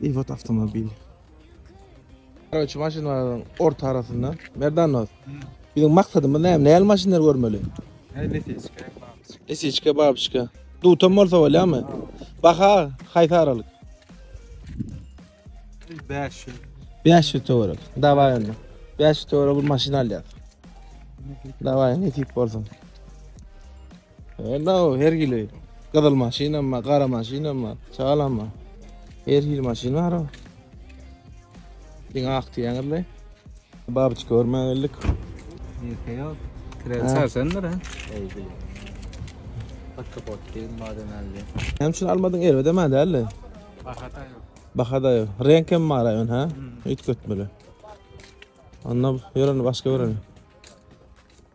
Iwat awtomobil. Garawçy maşynlaryň orta arasynda. Merdannoz. Biziň maksadymyz näme? Näli maşynlar görmeli? Lesiçka, babyçka. Lesiçka, babyçka. Dutam bolsa bolýarmy? Baha haýsy aralyk? 500. 500 töwerek. Dawaý onda. 500 töwerek bir maşyn alýar. Dawaý, nesip bolsun. Hello, her hili. Gyzyl maşynam bar, gara maşynam bar, çagalam bar. Her hili maşyn bar. Diňe ak diýäňizle. Babyç görmä geldik. Ýeke ýok. Kirel sarsandyr ha. Eýdi. Hakka bot diýen maden aldy. Hem şunu almadyň erbede mä däldi. Bahada ýok. Bahada ýok. Renk hem bar aýan ha. Üýtgetmeli. Onda ýöreni başga göreli.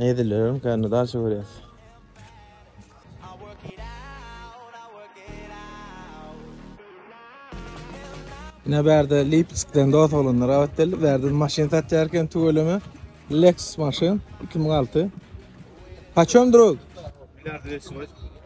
Ne edilerin kände dalşa görýäs. Ine bärde Lipskden dos bolanlar awat geldi. Bärde maşyn satýarken tüweleme. Lexus maşyn 2006. Paçem drug? Milliard 200.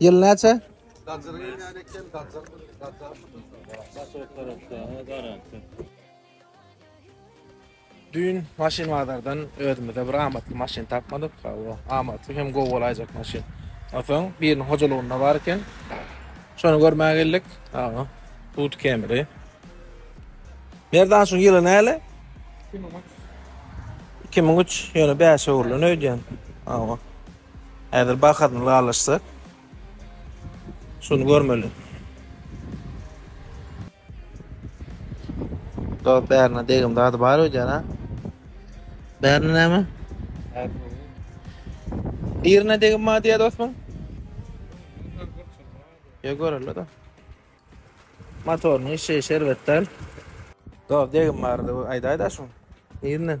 Ýyl näçe? Düýn maşyn bazardan özümize bir amatly maşyn tapmadyk. Hawa, amatly hem gowy bolaýjak maşyn. Onsoň biriniň hojalygynda bar eken. Şony görmäge geldik. Hawa, Tut Camry. Merdan şu ýyly näle? 2003. 2003, ýöne bäş öwrülen öýdýän. Hawa. Häzir bahasyny raýlaşsak, şuny görmeli. Dos bärine degim zady bar öýdýän a. Bärine näme? Birine degim bar diýýä dostum. Ýa göreli da. Motorynyň işjeýi şerbetdal. Dos degim bardy aýdaýda şuň. Nirnden?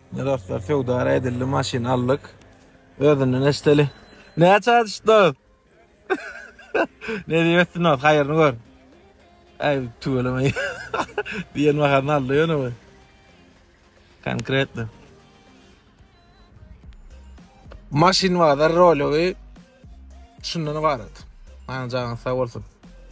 Mine dostlar söwda edildi maşyn aldyk. Özünden eşdeli. Näçe adyşdyk? ne diýipsin o haýyryny gör. Ay tüweleme. Diýen baharyny aldy ýöne bu. Konkretno. Maşyn bazar rology şundan ibarat. Aňjaňyz sag bolsun.